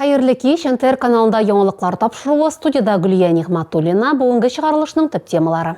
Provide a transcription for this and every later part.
Хәерле кич, НТР каналында яңалыклар тапшыруы, студияда Гөлия Нигматуллина, бүгенге чыгарылышның төп темалары.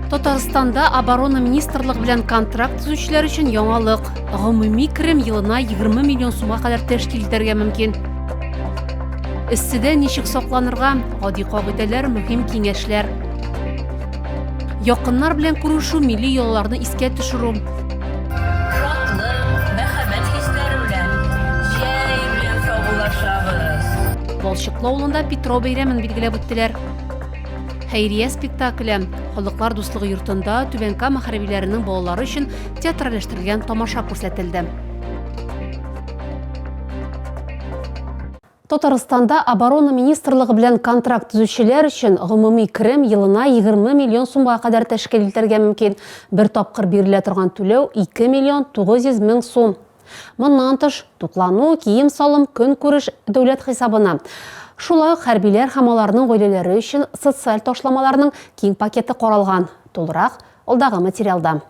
Татарстанда оборона министрлыгы белән контракт төзүчеләр өчен яңалык. Гомуми керем елына 20 миллион сумга кадәр тәшкил итәргә мөмкин. Эсседә ничек сакланырга, гади кагыйдәләр, мөһим киңәшләр. Якыннар белән күрешү, милли йолаларны искә төшерү. Балчыклы авылында Петро бәйрәмен билгеләп үттеләр. Хәйрия спектакле халыклар дуслыгы йортында Түбән Кама хәрбиләренең балалары өчен театральләштерелгән тамаша күрсәтелде. Татарстанда Оборона министрлыгы белән контракт төзүчеләр өчен гомуми керем елына 20 миллион сумга кадәр тәшкил итәргә мөмкин. Бер тапкыр бирелә торган түләү 2 миллион 900 мең сум. Моннан тыш, туклану, кием-салым, көнкүреш дәүләт хисабына. Шулай ук хәрбиләр һәм аларның гаиләләре өчен социаль ташламаларның киң пакеты каралган. Тулырак алдагы материалда.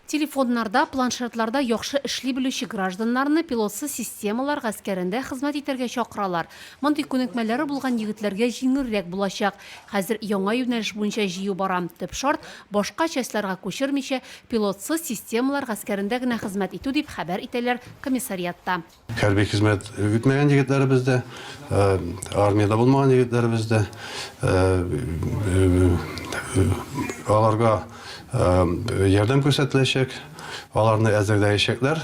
Телефоннарда, планшетларда яхшы эшли белүче гражданнарны пилотсыз системалар гаскәрендә хезмәт итәргә чакыралар. Мондый күнекмәләре булган егетләргә җиңелрәк булачак. Хәзер яңа юнәлеш буенча җыю бара. Төп шарт, башка частьларга күчермичә, пилотсыз системалар гаскәрендә генә хезмәт итү, дип хәбәр итәләр комиссариатта. Хәрби хезмәт үтмәгән егетләребез дә, армиядә булмаган егетләребез дә, аларга ярдәм күрсәтеләчәк, аларны әзерләячәкләр.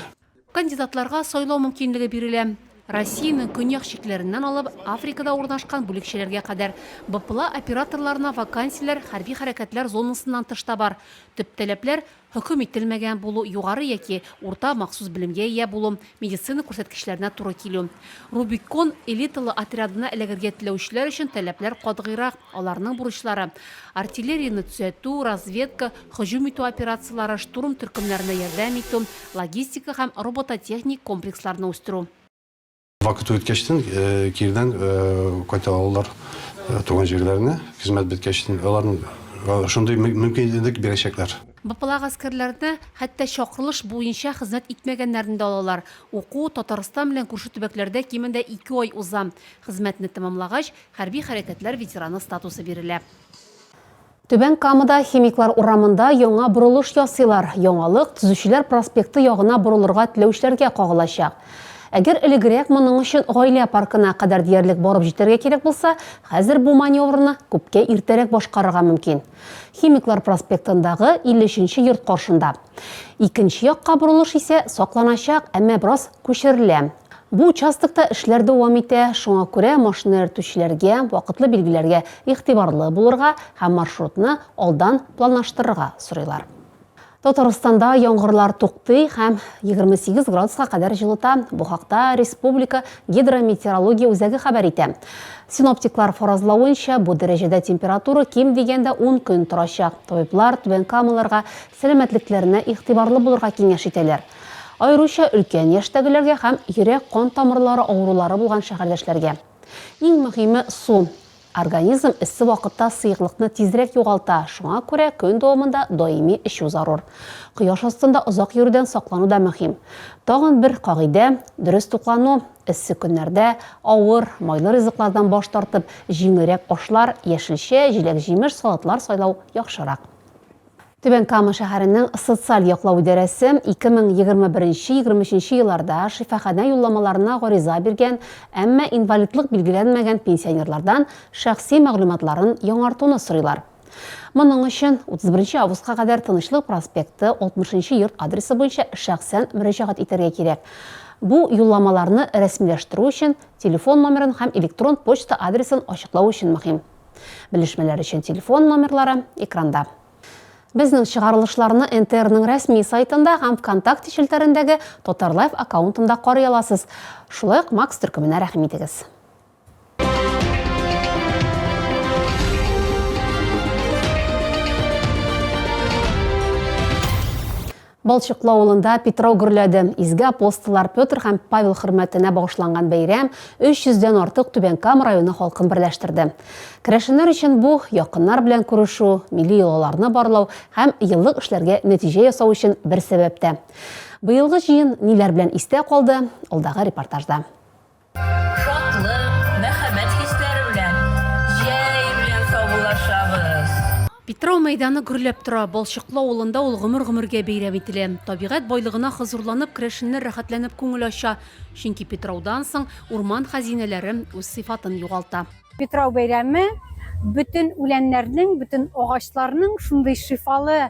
Кандидатларга сайлау мөмкинлеге бирелә. Россиянең көньяк чикләреннән алып, Африкада урнашкан бүлекчәләргә кадәр, БПЛА операторларына вакансияләр хәрби хәрәкәтләр зонасыннан тыш та бар. Төп таләпләр, Хөкем ителмәгән булу, югары яки урта махсус белемгә ия булу, медицина күрсәткечләренә туры килү. Рубикон элиталы отрядына эләгергә теләүчеләр өчен таләпләр катгыйрак, аларның бурычлары, артиллерияне төзәтү, разведка, һөҗүм итү операцияләре, штурм төркемнәренә ярдәм итү, логистика һәм робототехник комплексларны үстерү. Вакыты үткәчтен кирдән кайта алалар туган җирләренә, хезмәт беткәчтен аларның шундый мөмкинлек бирәчәкләр. БПЛА гаскәрләренә хәтта чакырылыш буенча хезмәт итмәгәннәрне дә алалар. Уку Татарстан белән күрше төбәкләрдә кимендә ике ай уза. Хезмәтне тәмамлагач, хәрби хәрәкәтләр ветераны статусы бирелә. Түбән Камада Химиклар урамында яңа борылыш ясыйлар. Яңалык Төзүчеләр проспекты ягына борылырга теләүчеләргә кагылачак. Әгәр элегрәк моның өчен Гаилә паркына кадәр диярлек барып җитәргә кирәк булса, хәзер бу маневрны күпкә иртәрәк башкарырга мөмкин. Химиклар проспектындагы 53 нче йорт каршында. Икенче якка борылыш исә сакланачак, әмма бераз күчерелә. Бу участокта эшләр дәвам итә, шуңа күрә машина йөртүчеләргә вакытлы билгеләргә игътибарлы булырга һәм маршрутны алдан планлаштырырга сорыйлар. Татарстанда яңгырлар туктый һәм 28 градуска кадәр җылыта. Бу хакта республика гидрометеорология үзәге хәбәр итә. Синоптиклар фаразлавынча, бу дәрәҗәдә температура ким дигәндә 10 көн торачак. Табиблар Түбән Камаларга сәламәтлекләренә игътибарлы булырга киңәш итәләр. Аеруча өлкән яшьтәгеләргә һәм йөрәк-кан тамырлары авырулары булган шәһәрдәшләргә. Иң мөһиме, су. Организм эссе вакытта сыеклыкны тизрәк югалта, шуңа күрә көн дәвамында даими эчү зарур. Кояш астында озак йөрүдән саклану да мөһим. Тагын бер кагыйдә, дөрес туклану. Эссе көннәрдә авыр, майлы ризыклардан баш тартып, җиңелрәк ашлар, яшелчә, җиләк-җимеш, салатлар сайлау яхшырак. Түбән Кама шәһәренең социаль яклау идарәсе 2021-23 елларда шифаханә юлламаларына гариза биргән, әмма инвалидлык билгеләнмәгән пенсионерлардан шәхси мәгълүматларын яңартуны сорыйлар. Моның өчен 31 августка кадәр Тынычлык проспекты 60 йорт адресы буенча шәхсән мөрәҗәгать итәргә кирәк. Бу юлламаларны рәсмиләштерү өчен телефон номерын һәм электрон почта адресын ачыклау өчен мөһим. Белешмәләр өчен телефон номерлары экранда. Безнең чыгарылышларны НТРның рәсми сайтында һәм ВКонтакте челтәрендәге Татарлайф аккаунтында карый аласыз. Шулай ук Макс төркеменә рәхим итегез. Балчыклы авылында Питрау гөрләде. Изге апостоллар Петр һәм Павел хөрмәтенә багышланган бәйрәм 300 дән артык Түбән Кама районы халкын берләштерде. Керәшеннәр өчен бу, якыннар белән күрешү, милли йолаларны барлау һәм еллык эшләргә нәтиҗә ясау өчен бер сәбәп тә. Быелгы җыен ниләр белән истә калды, алдагы репортажда. Шатлык, мәхәббәт хисләре белән җәй белән саубуллашабыз! Питрау мәйданы гөрләп тора. Балчыклы авылында ул гомер-гомергә бәйрәм ителә. Табигать байлыгына хозурланып, керәшеннәр рәхәтләнеп күңел ача, чөнки Питраудан соң урман хәзинәләре үз сыйфатын югалта. Питрау бәйрәме бөтен үләннәрнең, бөтен агачларның шундый шифалы,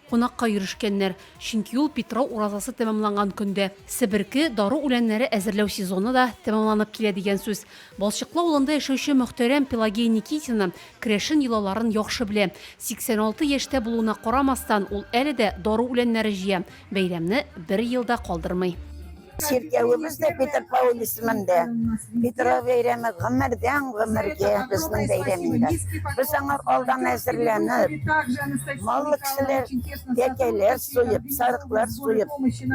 Кунакка йөрешкәннәр, чөнки ул Питрау уразасы тәмамланган көндә. Себерке, дару үләннәре әзерләү сезоны да тәмамланып килә дигән сүз. Балчыклы авылында яшәүче мөхтәрәм Пелагея Никитина керәшен йолаларын яхшы белә. 86 яшьтә булуына карамастан, ул әле дә дару үләннәре җыя, бәйрәмне бер ел да калдырмый. Чиркәвебез дә Петропавл исемендә. Петров бәйрәме гомердән гомергә безнең бәйрәм инде. Без аңа алдан әзерләнеп, маллы кешеләр тәкәләр суеп, сарыклар суеп,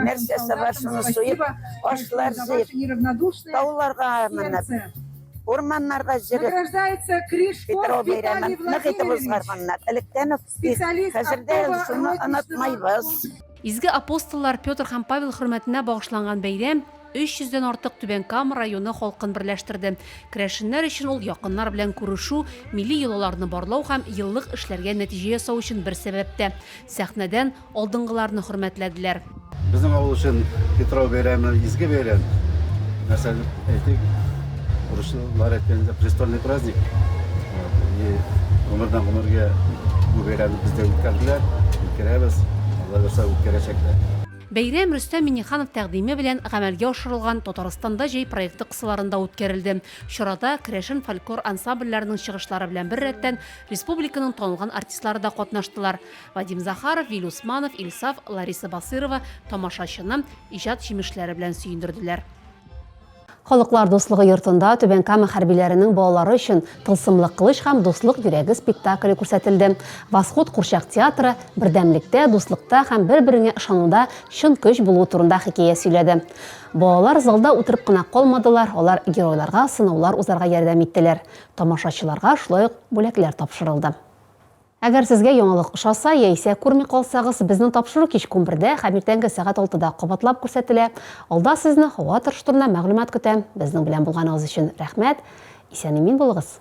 нәрсәсе бар шуны суеп, ашлар суеп, тауларга менеп, урманнарга җөреп, Петров бәйрәмен нык итеп узгарганнар. Электән үк, хәзер дә шуны онытмыйбыз. Изге апостоллар Петр һәм Павел хөрмәтенә багышланган бәйрәм 300 дән артык Түбән Кама районы халкын берләштерде. Керәшеннәр өчен ул якыннар белән күрешү, милли йолаларны барлау һәм еллык эшләргә нәтиҗә ясау өчен бер сәбәп тә. Сәхнәдән алдынгыларны хөрмәтләделәр. Безнең авыл өчен Питрау бәйрәме изге бәйрәм. Нәрсә дип әйтик? Урыслар әйткәндә престольный праздник. И гомердән гомергә бу бәйрәмне бездә үткәрделәр, үткәрәбез, Алла бирса үткәрәчәкләр. Бәйрәм Рөстәм Миңнеханов тәкъдиме белән гамәлгә ашырылган Татарстанда җәй проекты кысаларында үткәрелде. Чарада керәшен фольклор ансамбльләренең чыгышлары белән беррәттән, республиканың танылган артистлары да катнаштылар. Вадим Захаров, Виль Усманов, Ильсаф, Лариса Басыйрова тамашачыны иҗат җимешләре белән сөендерделәр. Халыклар дуслыгы йортында Түбән Кама хәрбиләренең балалары өчен Тылсымлы кылыч һәм Дуслык йөрәге спектакле күрсәтелде. Восход курчак театры бердәмлектә, дуслыкта һәм бер-береңә ышануда чын көч булуы турында хикәя сөйләде. Балалар залда утырып кына калмадылар, алар геройларга сынаулар узарга ярдәм иттеләр. Тамашачыларга шулай ук бүләкләр тапшырылды. Әгәр сезгә яңалык ошаса яисә күрми калсагыз, безнең тапшыру кичке унбердә һәм иртәнге сәгать алтыда кабатлап күрсәтелә. Алда сезне һава торышы турында мәгълүмат көтә. Безнең белән булганыгыз өчен рәхмәт! Исән-имин булыгыз!